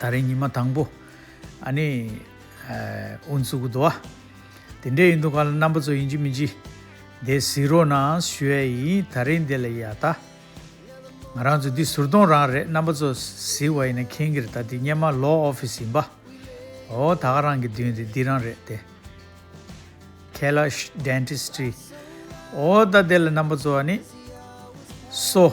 ད་རེས་ཉི་མ་དང་པོ། ཨཱ་ནི། ཨུ་ནས་སུ་གུ་དོ་ཨ། དེ་འདྲས་ཡིན་འདུག་ག་ལ་རྣམ་པ་ཚོ་ཡིན་གྱི་མིན་གྱི། འདས་ཟིག་རོགས་གནང་ཞུ་ཡ་ཡིན་ད་རེས་འདི་ལ་ཡ་ད། ང་རང་ཚོ་འདི་ཟུར་གདོང་རང་རེད་རྣམ་པ་ཚོ་ཟིག་བ་ཡིན་ན་ཁེན་གི་རེད་ད་འདི་སྙེ་མ་ལོག་ཨོ་ཕི་སི་ཡིན་པ། ཨོ་ད་ག་རང་གི་མདུན་དེ་འདི་རང་རེད་དེ། ཁེ་ལ་ཤི། Dentistry། ཨོ་ད་འདི་ལ་རྣམ་པ་ཚོ་ཨ་ནི། སོ།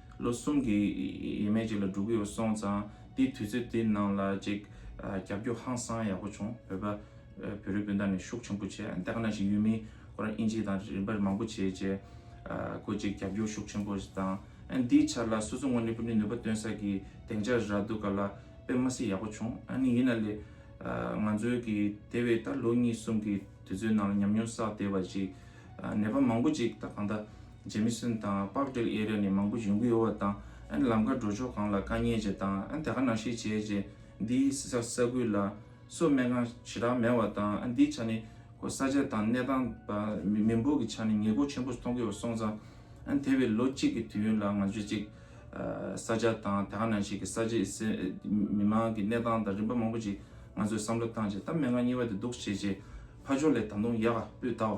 ལོ་གསུམ་གྱི་ཡས་མས་ཅིག་ལ་འགྲོ་གི་ཡོད་སོང་ཙང་དེའི་དུས་ཚོད་དེའི་ནང་ལ་ཅིག་རྒྱབ་སྐྱོར་ཧང་སང་ཡག་པོ་བྱུང་བོད་པ་བོད་རིགས་སྤུན་ཟླ་ནས་ཤུགས་ཆེན་པོ་བྱས་འདི་ག་ན་ཞིག་ཡུལ་མིའི་ཁོ་རང་དབྱིན་ཇི་དང་རིན་པར་མང་པོ་བྱས་རྗེས་ཁོ་ཅིག་རྒྱབ་སྐྱོར་ཤུགས་ཆེན་པོ་བཏང་ཨ་འདིའི་ཆ་ལ་སོ་སོ་ངོ་ནས་པུ་ཏྲིན་ནུས་པ་སྟོན་ས་ཀྱི་གདེང་ཆ་རག་འདུག་ག་ལ་པེ་མ་སི་ཡག་པོ་བྱུང་ཨ་ནི་ཡིན་ན་ལེ་ང་ཚོའི་གི་དེ་བས་ད་ལོ་གཉིས་གསུམ་གྱི་དུས་ཚོད་ནང་ལ་ཉམས་མྱོང་བསགས་བསྡད་པ་ཅིག་ནད་པ་མང་པོ་ཅིག་ད་གང་ད་རྗེ་མི་སྲིན་དང་དཔག་བསྒྲིགས་དབྱེ་རེ་ནས་མང་པོ་བྱུང་གི་ཡོད་བ་དང་ཨན་ལམ་ཀ་འགྲོ་ཕྱོགས་གང་ལ་དཀའ་ཉེ་ཅེས་དང་ཨན་དེ་ག་ནང་ཤི་བྱས་ཅེས་འདིའི་ས་ཁུལ་ལ་སོ་སྨད་ཁང་ཞེ་དྲག་མེད་བ་དང་ཨན་འདིའི་ཆ་ནས་ཁོ་ས་ཆ་དང་གནས་སྟངས་བ་མི་འབོར་གི་ཆ་ནས་ཉེས་འགོག་ཆེན་པོ་མཐོང་གི་ཡོད་སོང་ཙང་ཨན་དེ་བས་ལོ་གཅིག་གི་དུས་ཡུན་ལ་ང་ཚོས་ཅིག་ས་ཆ་དང་དེ་ག་ནང་ཤི་གི་ས་ཆའི་མི་མང་གི་གནས་སྟངས་དང་རིམ་པ་མང་པོ་ཅིག་ང་ཚོས་བསམ་བློ་བཏང་རྗེས་ད་མན་ངག་གཉིས་བ་དེ་འདུག་བྱས་རྗེས་ཕ་ཕྱོགས་ལས་ད་དུང་ཡག་པོས་ད་བ།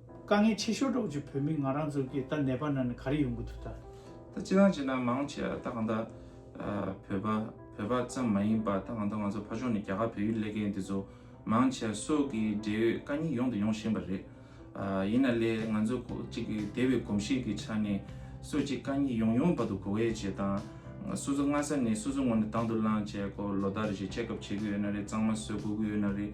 དཀའ་ངལ་ཆེ་ཤོས་སྒྲོག་ཅིག་བོད་མི་ང་རང་ཚོ་གིས་ད་ནད་པ་ན་ནས་ག་རེ་ཡོང་གི་འདུག་ད། ད་ཅི་དང་ཅི་ན་མང་བྱས་ཨ་ད་གང་ད། བོད་པ་བོད་པ་ཙམ་མ་ཡིན་པ་ད་གང་ད་ང་ཚོ་ཕ་ཕྱོགས་ནས་རྒྱ་གར་བོད་ཡུལ་སླེ་མཁན་འདི་ཚོ་མང་བྱས་སོགས་ཀྱི་འབྲེལ་ཡོད་དཀའ་ཉེ་ཡོང་དང་ཡོང་བཞིན་པ་རེད། ཡིན་ན་ལེ་ང་ཚོ་ཁོག་གཅིག་གིས་དེ་བས་གོམས་གཤིས་ཀྱི་ཆ་ནས་སོ་ཅིག་དཀའ་ཉེ་ཡོང་ཡོང་བར་དུ་གོ་བས་བྱས་དང། སོ་སོ་སྔ་ས་ནས་སོ་སོ་ངོ་ནས་དང་དུ་བླངས་བྱས་ཁོག་ལོ་ཟླ་རེ་བཞིན་ཆེ་ཁབ་བྱེད་གི་ཡོད་ན་རེ་གཙང་མ་བཟོས་གོ་གི་ཡོད་ན་རེ།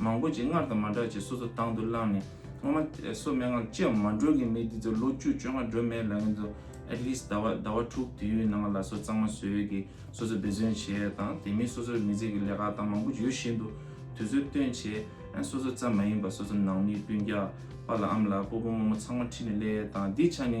མང་པོ་ཅིག་སྔར་དང་མ་འདྲ་ཅིག་སོ་སོ་དང་དུ་བླངས་ནས་སྔ་མ་སོ་མན་ངག་ཅི་ཡང་མ་འགྲོ་གི་མི་འདི་ཚོ་ལོ་བཅུ་བཅོ་ལྔ་སྒྲོལ་མའི་ལག་གཡོན་དུ at least ཟླ་བ་ཟླ་བ་དྲུག་དུས་ཡུན་ནང་ལ་སོ་གཙང་མ་བཟོས་ཡོད་གི་སོ་སོ་འབད་བརྩོན་བྱས་དང་དེ་མིན་སོ་སོར་མི་ཚེ་གི་ལས་ཀ་དང་མང་པོ་ཡོད་བཞིན་དུ་དུས་ཚོད་སྟོན་བྱས་ཨ་སོ་སོ་ཙམ་མ་ཡིན་པ་སོ་སོ་ནང་མི་སྤུན་རྒྱག་པ་ལ་ཨམ་ལགས་སྤོ་སྤོ་རྨོ་རྨོ་ཚང་མ་ཁྲིད་ནས་སླེ་དང་འདི་ཆ་ནི།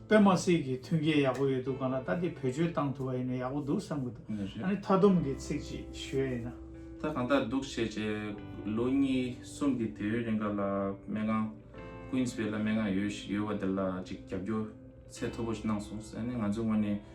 པད་མ་སི་གིས་མཐུན་རྐྱེན་ཡག་པོ་ཡོད་འདུག་གང་ལ་ལྟ་དེ་བེད་སྤྱོད་གཏང་ཐུབ་པ་ཡིན་ན་ཡག་པོ་འདུག་བསམ་གི་འདུག་ཨ་ནི་མཐའ་སྡོམ་གི་ཚིག་ཅིག་ཞུས་ཡ་ཡིན་ན། ད་གང་ལྟར་འདུག་བྱས་བྱས་ལོ་གཉིས་གསུམ་གི་དུས་ཡུན་རིང་ག་ལ་སྨན་ཁང Queensway ལ་སྨན་ཁང་ཡོད་ཡོད་བ་དེ་ལ་ཅིག་རྒྱབ་སྐྱོར་ཚད་མཐོ་པོ་ཞིག་གནང་སོང་ཨ་ནི་ང་ཚོའི་ངོས་ནས།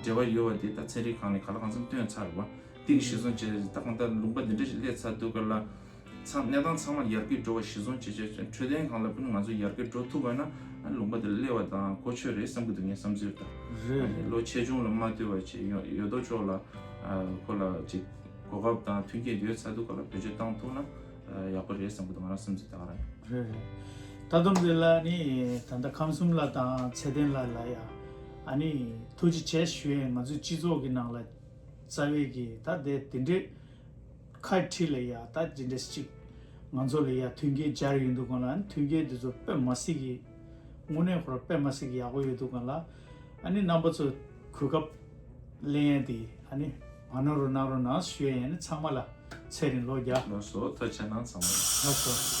འབྲེལ་བ་ཡོད་བ་དེ་དག་ཚན་རིག་གང་ནས་ག་ལ་གང་འཚམ་བཏོན་ཚར། བ་ཏིང་ཞི་བཟུང་བྱས་ཏེ་ད་གང་ལྟར་ལུང་པ་འདི་འདྲ་ཞིག་སླེབས་ཚར་འདུག་ག་ལ། ཚང་གནས་སྟངས་ཚང་མ་ཡར་སྐྱེད་འགྲོ་བ་ཞི་བཟུང་བྱེད་ཆོག་ཅིང་འཕྲོད་བསྟེན་གང་ལ་ཕུལ་ང་ཚོ་ཡར་སྐྱེད་འགྲོ་ཐུབ་པ་ན་ལུང་པ་འདིར་སླེབས་བ་དང་གོ་ཆོད་རེད་བསམ་གྱི་འདུག་ངའི་བསམ་ཚུལ་ལྟར། རེད་རེད། ལོ་ཆེ་ཆུང་ལ་མ་ལྟོས་བར་ཆེད་ཡོད་དོ་ཅོག་ལ་ཁོ་ལ་ཅིག་གོ་སྐབས་དང་མཐུན་རྐྱེན་ཡོད་ཚར་འདུག་ག་ལ་བེད་སྤྱོད་བཏང་ཐུབ་ན་ཡག་པོ་རེད་བསམ་གྱི་འདུག་ང་རང་བསམ་ཚུལ་དག་རེད། རེད་རེད། ད་དུང་འདི་ལ་ནི་ད་ལྟ་ཁམས་གསུམ་ལ་དང་ཚད་ལྡན་ལ་ལ་ཡང་ཨ་ནི་ཐུགས་རྗེ་ཆེ་ཞུ་ཡས་ང་ཚོའི་སྤྱི་ཚོགས་ཀྱི་ནང་ལ་རྩ་བའི་གི་ད་དེ་དེ་འདྲའི་ཁ་ཁྲི་ལ་ཡ་ད་ཇི་འདྲ་ཅིག་ང་ཚོ་ལ་ཡ་མཐུན་རྐྱེན་སྦྱར་ཡོད་འདུག་ག་ལ་མཐུན་རྐྱེན་དེ་ཚོ་དཔེ་མ་སྲིད་གི་དངོས་གནས་ཁོ་ར་དཔེ་མ་སྲིད་གི་ཡག་པོ་ཡོད་འདུག་ག་ལ་ཨ་ནི་རྣམ་པ་ཚོ་གོ་སྐབས་གླེང་ཡས་དེ་ཨ་ནི། ཨ་ནོ་རུ་ནང་རུ་ནང་ཞུ་ཡ་ཡན་ཚང་མ་ལ་ཚེ་རིང་ལོ་བརྒྱ། ནོར་སོ་ཐོ་ཆེ་ནང་ཚང་མ་ལ། ནོར་སོ།